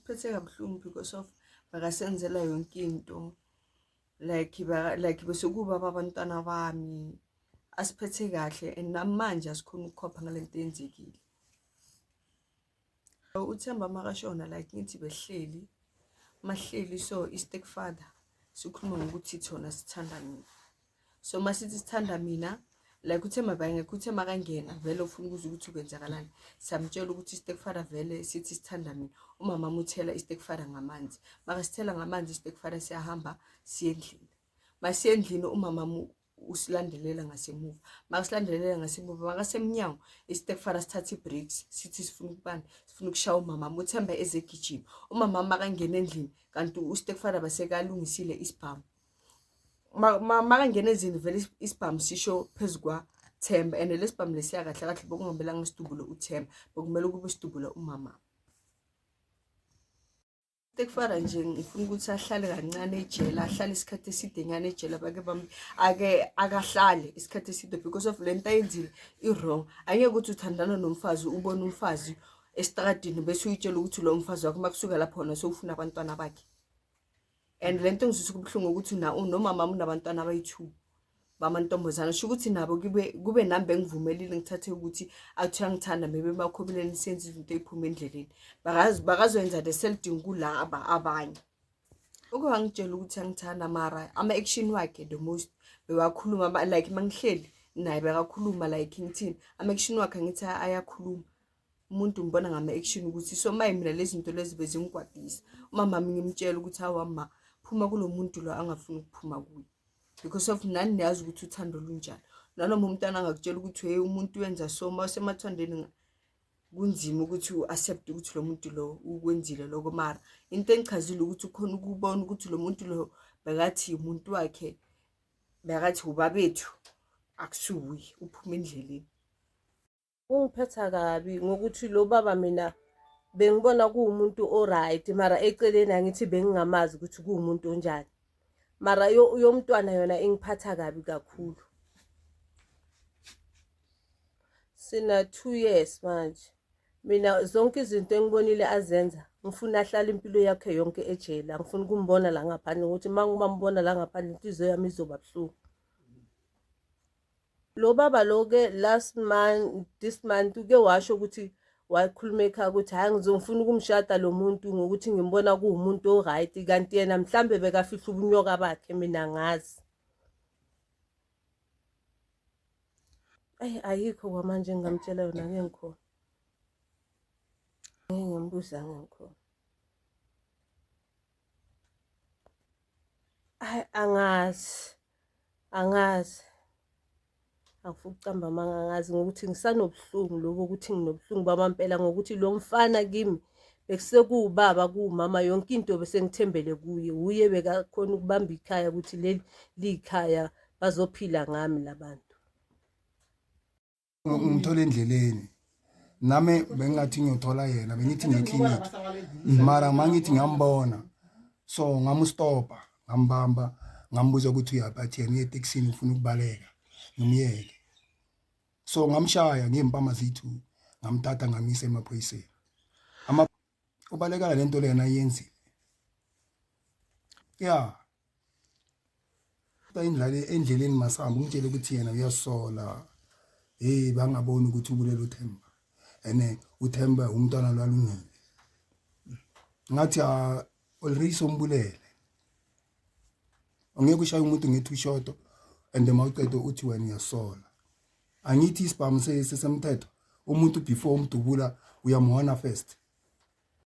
Phethe kabuhlungu because of bakasenzela yonke into like ba like besekuba babantwana bami asiphethe kahle and namanje asikhona ukukhopha ngalento yenzekile uthemba makashona like ngithi behleli mahleli so i-stepfather sikhuluma ngokuthi thona sithanda mina so masithi sithanda mina like uthe mabangekho uthe makangena vele ufuna ukuza ukuthi ukwenzakalani samtshela ukuthi istekfara vele sithi sithanda mina umama amuthela istekfara ngamanzi makasithela ngamanzi istekfara siyahamba siye endlini masiye endlini umama usilandelela ngasemuva makasilandelela ngasemuva makasemnyango isitefara sithatha i-breaks sithi sifuna ukubani sifuna ukushaya umama uthemba ezegijima umama makangena endlini kanti usitefara basekalungisile isibhamu makangena ezini vele isibhamu sisho phezu kwathemba and lesibhamu lesiya kahle kahle bokungamelanga isidubule uthemba bokumele ukube isidubule umama tekufana nje ngifuna ukuthi ahlale kancane ejele ahlale isikhathi eside nyana ejele abake bami ake akahlale isikhathi eside because of le nto ayenzile i-wrong ayeke ukuthi uthandana nomfazi ubone umfazi esitradini bese uyitshela ukuthi lo mfazi wakho uma kusuka lapho wona sewufuna abantwana bakhe and le nto ngizwisa kubuhlungu ukuthi nomama unabantwana abayi-two bamantombazana sho ukuthi nabo kube nami bengivumelile ngithathe ukuthi athi uyangithanda maybe emakhobeleni senze izinto ey'phuma endleleni bakazoyenza the selding kulaba abanye uke wangitshela ukuthi angithanda mara ama-action wakhe the most bewakhuluma like mangihleli naye bekakhuluma like ngithini ama-action wakhe angithi ayakhuluma umuntu ngibona ngama-action ukuthi so maye mina lezi zinto lezi bezingigwadisa umamami ngimtshela ukuthi hawa ma phuma kulo muntu lo angafuni ukuphuma kuye because of nani niyazi ukuthi uthando lunjani nanoma umntana angakutshela ukuthi hey umuntu wenza so ma usemathandweni kunzima ukuthi u-accept ukuthi lo muntu lo ukwenzile loko mara into engichazile ukuthi ukhona ukubona ukuthi lo muntu lo bekathi umuntu wakhe bekathi ubabethu akusuwuye uphuma endleleni kungiphetha kabi ngokuthi lo baba mina bengibona kuwumuntu o-right mara eceleni angithi bengingamazi ukuthi kuwumuntu onjani mara yomntwana yona ingiphatha kabi kakhulu sina two years manje mina zonke izinto engibonile azenza ngifuna ahlale impilo yakhe yonke ejele angifuni ukumbona la ngaphandle ngokuthi uma ngibambona la ngaphandle inhliziyo yami izoba buhlungu Lo baba lo ke last month this month uke washo ukuthi wakhuluma ekhaya ukuthi hhayi ngizongifuna ukumshada lo muntu ngokuthi ngimbona kuwumuntu o-right kanti yena mhlawumbe bekafihla ubunyoka bakhe mina ngazi ayi ayikho kwamanje engingamtshela yona ke ngikhona ngeke ngimbuza ngikhona ayi angazi angazi angifuni ukucamba amanga angazi ngokuthi ngisanobuhlungu lobo ukuthi nginobuhlungu bamampela ngokuthi lo mfana kimi bekusekuwubaba kuwumama yonke into besengithembele kuye wuye bekakhona ukubamba ikhaya ukuthi leli liyikhaya bazophila ngami labantu mm. ngimthola endleleni nami bengingathi ngiyothola yena bengithi ngeclinic mara mangithi ngiyambona so ngamustopa ngambamba ngambuza ukuthi uyaphi athi yena uyeteksini ufuna ukubaleka ngimyeke so ngamshaya ngiyempama zithu ngamthatha ngamisa emaphoyiseni ubalekela lento lena ayenzile ya indlala endleleni masihamba umtshele ukuthi yena uyasola hey bangaboni ukuthi ubulele uThemba ene uThemba umntwana lwalungile ngathi ah, already sombulele ungeke ushaye umuntu ngethi ushodo and uma uqeda uthi wena uyasola angithi isibhamu sesemthetho umuntu before umdubula uyamhona first